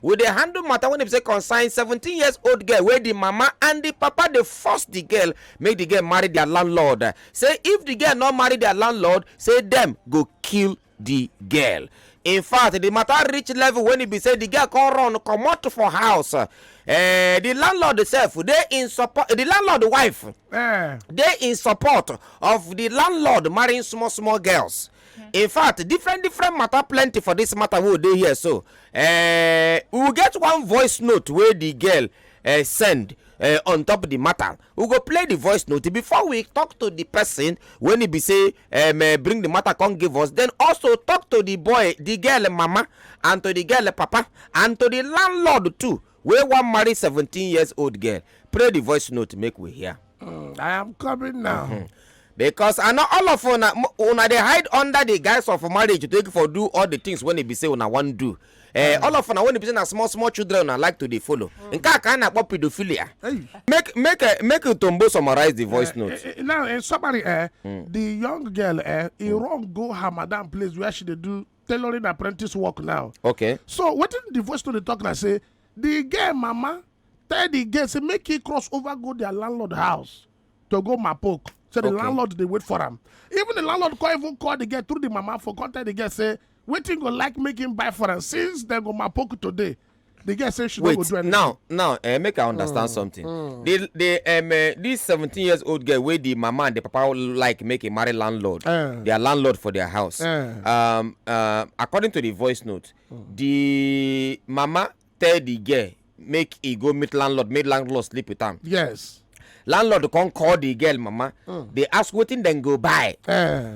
We dey handle matter wey be say concern seventeen years old girl wey the mama and the papa dey force the girl make the girl marry their landlord. Say if the girl no marry their landlord, say dem go kill the girl. In fact, the matter reach level when e be say the girl come run comot for house. Eh, the landlord sef dey in support. The landlord wife Eh. dey in support of the landlord marrying small small girls. in fact different different matter plenty for this matter wey dey here so uh, we get one voice note wey the girl uh, send uh, on top of the matter we go play the voice note before we talk to the person when he be say um, uh, bring the matter come give us then also talk to the boy the girl mama and to the girl papa and to the landlord too Wey wan marry seventeen years old girl, pray the voice note make we hear. Mm, I am coming now. Mm-hmm. because i know all of una una dey hide under the guise of marriage take for do all the things wey e be say una wan do eh mm. all of una wey e be say na small small children una like to dey follow mm. nke a ka a na-akpọ pedophilia make make eh, make utombo summarize the voice eh, note eh, now in summary eh mm. the young girl eh e run go her madam place where she dey do tailoring apprentice work now okay so wetin the voice to dey talk na say the girl mama tell the girl say make he cross over go their landlord house to go mapoke so the Okay. landlord dey wait for am even the landlord come even call the girl through the mama for come tell the girl say wetin go like make him buy for am since dem go mapoke today the girl say she no go do anything. now now uh, make i understand mm, something mm. the the um, uh, this seventeen years old girl wey the mama and the papa like make a marry landlord uh, their landlord for their house uh, um, uh, according to the voice note mm. the mama tell the girl make e go meet landlord make landlord sleep with am. yes landlord come call the girl mama mm. dey ask wetin dem go buy eh.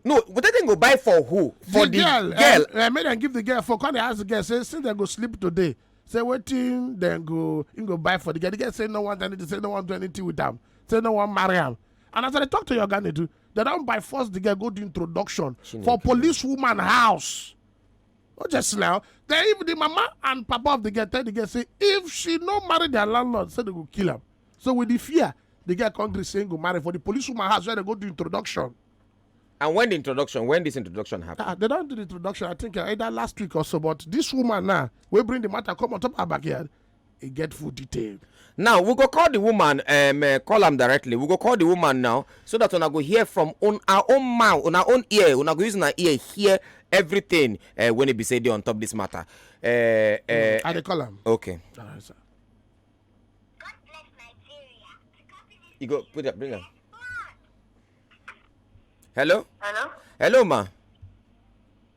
no wetin dem go buy for who for the girl eh, eh, make dem give the girl for come dey ask the girl say since dem go sleep today say wetin dem go im go buy for the girl the girl say no wan do anything say no wan do anything with am say no wan marry am and as i dey talk to your oga nedu dem don by force the girl go do introduction for police woman house Oh, just now. Then even the mama and papa of the girl tell the girl say if she no marry their landlord, say they go kill him. So with the fear, the girl come gree say go marry for the police woman house where they go do introduction. And when the introduction, when this introduction happened? Ah, they don't do the introduction. I think uh, either last week or so. But this woman now, we bring the matter come on top of her backyard. e get full detail. now we go call the woman um, uh, call am directly we go call the woman now so that una go hear from on our own mouth on our own ear una go use una ear hear everything uh, when e be say dey on top this matter. Uh, uh, mm, i dey call am. okay. All right, sir. You go put that, bring her. Hello? Hello? Hello, ma.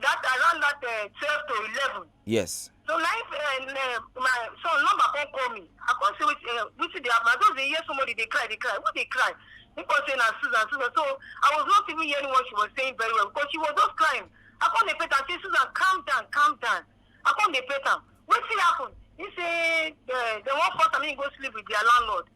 that around that uh, twelve to eleven. yes. so na him uh, uh, my son number come call me i come see wetin uh, wetin dey happen i just dey hear somebody dey cry dey cry who dey cry he come say na susan susan so i was not even hearing what she was saying very well because she was just crying i come dey pet am say susan calm down calm down i come dey pet am wetin happen he say uh, dem wan force am make he go sleep with their landlord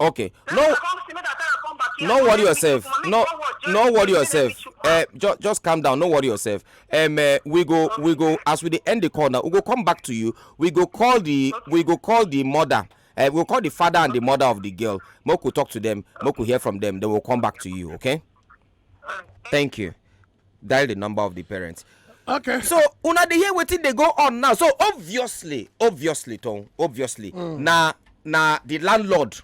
okay no no worry yourself no no worry yourself uh, ju just calm down no worry yourself um, uh, we go we go as we dey end the call now we go come back to you we go call the we go call the mother uh, we go call the father and the mother of the girl make we talk to them make we hear from them then we we'll come back to you okay thank you. dial the number of the parents okay so una dey hear wetin dey go on now so obviously obviously tom obviously mm. na na the landlord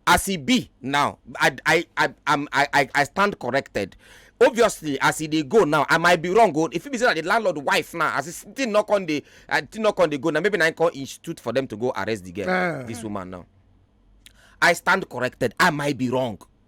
as e be now i i i am i i i stand corrected obviously as e dey go now i might be wrong o oh, if fit be say na the landlord wife now as e still no come dey uh, still no come dey go now maybe na im come institute for them to go arrest the girl uh. this woman now i stand corrected i might be wrong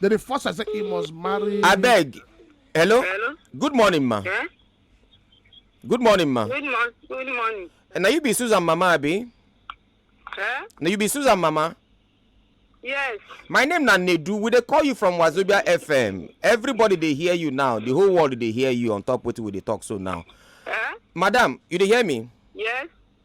They dey force her say he must marry. I beg. Hello? Hello? Good morning, ma. Yeah? Good morning, ma. Good, mo- good morning. And now you be Susan Mama, Abi? Yeah? Now you be Susan Mama. Yes. My name na Nedu. We dey call you from Wazobia FM. Everybody dey hear you now. The whole world dey hear you on top what we dey talk so now. Yeah? Madam, you dey hear me? Yes.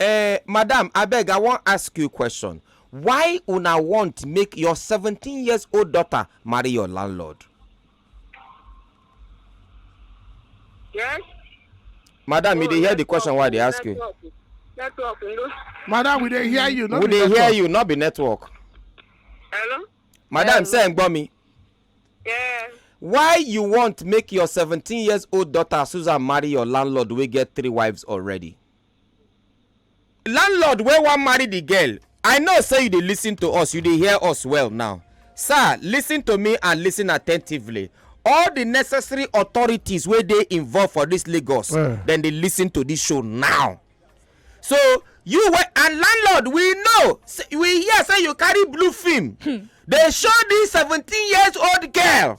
Eh, madam, abeg I wan ask you question. Why una want make your 17 years old daughter marry your landlord? Yes. Madam, oh, you dey hear the question why I dey ask you. Network, no. Madam, we dey hear you. No we dey hear you, not be network. Hello. Madam, say n gbọ́ mi. Yeah. Why you want make your 17 years old daughter Susan marry your landlord wey get three wives already? landlord wey wan marry the girl i know say you dey listen to us you dey hear us well now sir listen to me and listen attentively all the necessary authorities wey dey involved for this lagos Eh. dem dey listen to this show now so you wey and landlord we know say- we hear say you carry blue film dey show this seventeen years old girl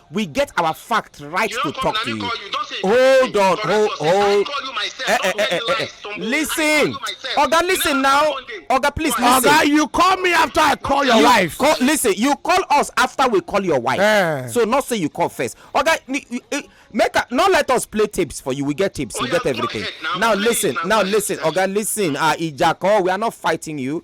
We get our fact right You to don't come talk to now, me you. call you. Don't say Hold on, correct hold, yourself. I hold. call you myself. Eh, eh, Don't eh, tell eh, me eh, eh. lies, Tombo. I call Listen, you myself. Oga, You never listen come now. one day. Oga, please Go ahead. listen. Oga, you call me after I call your you wife. Call, listen, you call us after we call your wife. Eh. So not say you call first. Okay, ni- ni- eh, make a, not let us play tapes for you. We get tapes, Oh, we yeah, get go everything. ahead now. Now Play it listen, now. now Go ahead. listen, Oga, listen. Ah, Ijako, we are not fighting you.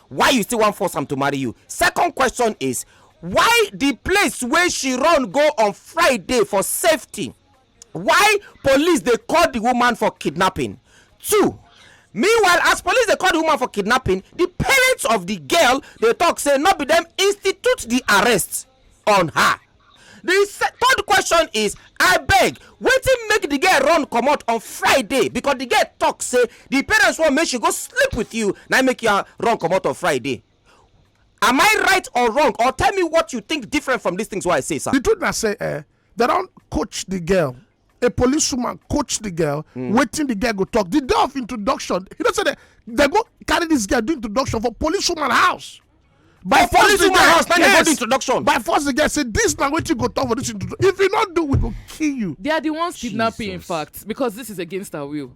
why you still wan force am to marry you second question is why the place wey she run go on friday for safety why police dey call the woman for kidnapping two meanwhile as police dey call the woman for kidnapping the parents of the girl dey talk say no be them institute the arrest on her di third question is I beg, wetin make the girl run comot on friday because the girl talk say the parents want make she go sleep with you na make you run comot on friday am i right or wrong or tell me what you think different from these things wey i say sir. the truth na say eh they don coach the girl a policewoman coach the girl mm. waiting the girl go talk the day of introduction you know say they they go carry this girl do introduction for policewoman house by oh, force the girl house na yes, go introduction by force the girl say this na wetin go talk for this introduction if you no do we go kill you. they are the ones kidnapping Jesus. in fact because this is against our will.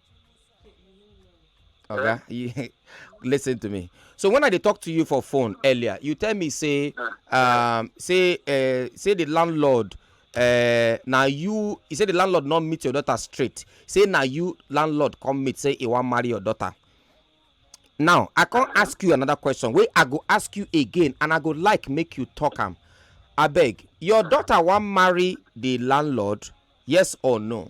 Okay, you listen to me. So when I dey talk to you for phone earlier, you tell me say, ah. um, say, uh, say the landlord uh, na you he say the landlord not meet your daughter straight say na you landlord come meet say he wan marry your daughter now i come ask you another question wey i go ask you again and i go like make you talk am abeg your daughter wan marry the landlord yes or no.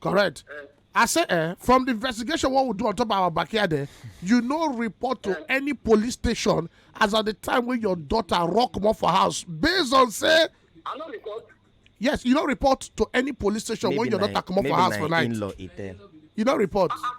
correct eh. i say eh from the investigation what we do on top of our backyard eh you no report to eh. any police station as at the time when your daughter rock comot for house based on say i no report yes you no report to any police station when your daughter comot for house for night you no report ah, ah.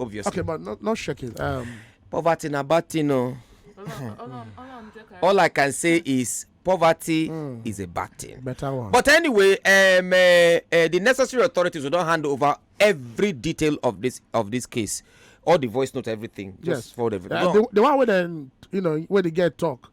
obviously. okay but not, not shaking um, poverty na bad thing o. all i can say is poverty mm. is a bad thing. better one. but anyway um, uh, uh, the necessary authorities will don hand over every detail of this of this case all the voice note everything. just yes. for everything. Uh, no. the, the one wey dem you know wey dey get talk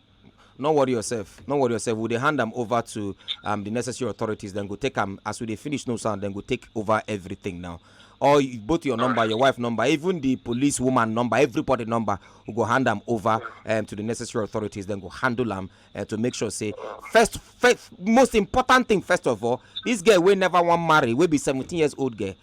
no worry yourself no worry yourself we dey hand am over to um, the necessary authorities dem go take am as we dey finish no sound dem go take over everything now or both your number your wife number even the police woman number everybody number we go hand am over um, to the necessary authorities dem go handle am uh, to make sure say first first most important thing first of all this girl wey never wan marry wey be seventeen years old girl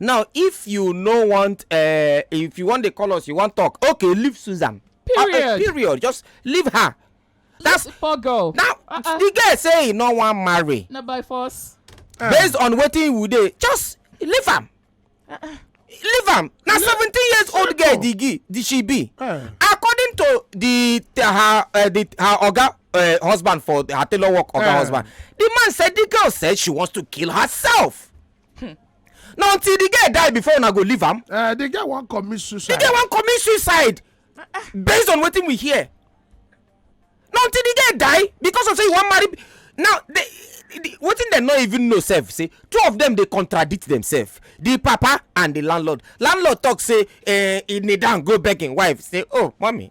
now if you no want uh, if you wan dey call us you wan talk okay leave susan ah, eh, period uh, period just leave her that's poor girl now uh -uh. the girl say he no wan marry na by force uh. based on wetin we dey just leave am uh -uh. leave am na seventeen years old girl di gi di she be uh. according to the her uh, the her oga uh, husband for her tailor work oga uh. husband the man said the girl said she wants to kill herself Hmm. na until the girl die before una go leave am. Uh, the girl wan commit suicide. the girl wan commit suicide based on wetin we hear. na until the girl die because of say you wan marry now the, the, wetin dem no even know sef say two of them dey contradict themselves the papa and the landlord landlord talk say uh, he kneel down go beg him wife say oh mummy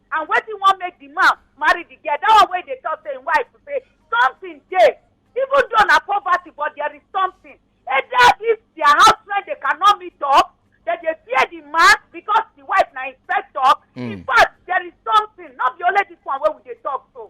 and wetin wan make the man marry the girl that one wey dey talk say im wife say something dey even though na poverty but there is something either if their house rent they cannot meet up they dey fear the man because the wife na inspector in fact there is something no be only this one wey we dey talk so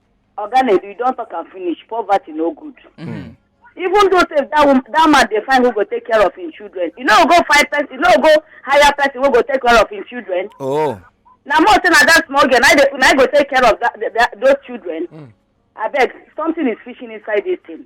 oga na you don talk am finish poverty no good Mm. even though say that woman that man dey find who go take care of him children you no go find person you no go hire person wey go take care of him children oh na more say na that small girl na dey na go take care of that, that, that those children abeg something is fishing inside this thing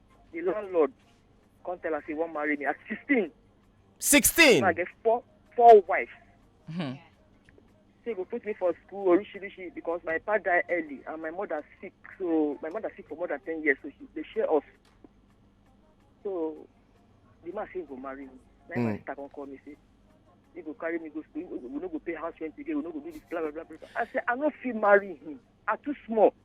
the landlord come tell her say he wan marry me at sixteen. sixteen. i get four four wives. Hmm. say go put me for school orishirishi because my papa die early and my mother sick so my mother sick for more than ten years so she dey share us so the man say go marry me na mm. my hmm. sister come call me say he go carry me go school we no go pay house rent again we no go do this blah blah blah blah i say i no fit marry him i too small.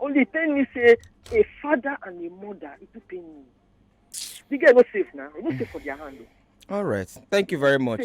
only tell me say a father and a mother e too pain me the girl no safe na e no safe for their hand o. all right thank you very much.